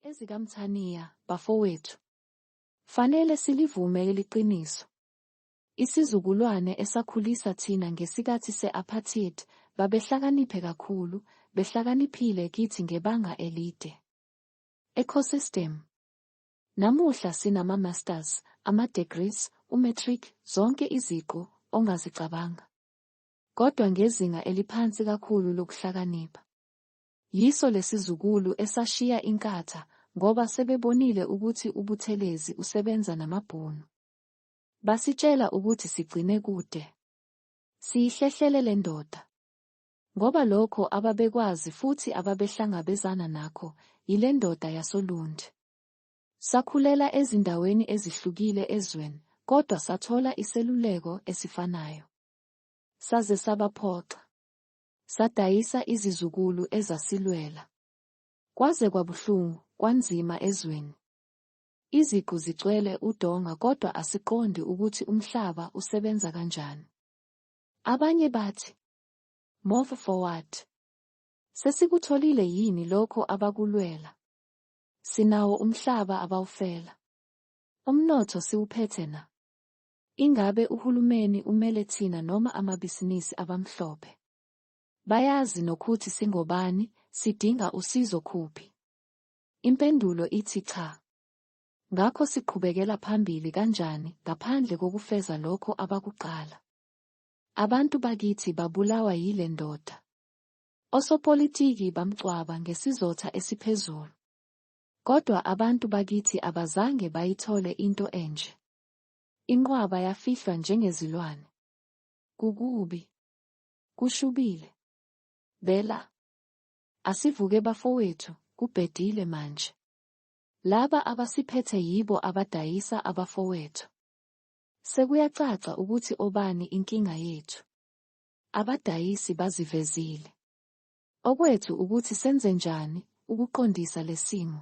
EzikaMthaniya, bafowethu. Fanele silivume leli qiniso. Isizukulwane esakhulisa thina ngesikathi se-apartheid babehlakaniphe kakhulu, behlakaniphile kithi ngebanga elide. Ecosystem. Namuhla sinama-masters, ama-degrees, u-matric, zonke iziqu ongazicabanga. Kodwa ngezinga eliphansi kakhulu lokuhlakanipha. Yiso lesizukulu esashiya iNkatha ngoba sebebonile ukuthi uButhelezi usebenza namaBhunu. Basitshela ukuthi sigcine kude. Siyihlehlele lendoda. Ngoba lokho ababekwazi futhi ababehlangabezana nakho yilendoda yasoLundi. Sakhulela ezindaweni ezihlukile ezweni kodwa sathola iseluleko esifanayo. Saze sabaphoxa. Sadayisa izizukulu ezasilwela. Kwaze kwabuhlungu, kwanzima ezweni. Iziqu zicwele udonga kodwa asiqondi ukuthi umhlaba usebenza kanjani. Abanye bathi, Move forward. Sesikutholile yini lokho abakulwela? Sinawo umhlaba abawufela. Umnotho siwuphethe na? Ingabe uhulumeni umele thina noma amabhisinisi abamhlophe? Bayazi nokhuthi singobani, sidinga usizo khuphi? Impendulo ithi cha. Ngakho siqhubekela phambili kanjani ngaphandle kokufeza lokho abakuqala? Abantu bakithi babulawa yile ndoda. Osopolitiki bamcwaba ngesizotha esiphezulu. Kodwa abantu bakithi abazange bayithole into enje. Inqwaba yafihlwa njengezilwane. Kukubi. Kushubile. Bela. Asivuke bafowethu, kubhedile manje. Laba abasiphethe yibo abadayisa abafowethu. Sekuyacaca ukuthi obani inkinga yethu. Abadayisi bazivezile. Okwethu ukuthi senzenjani ukuqondisa lesimo.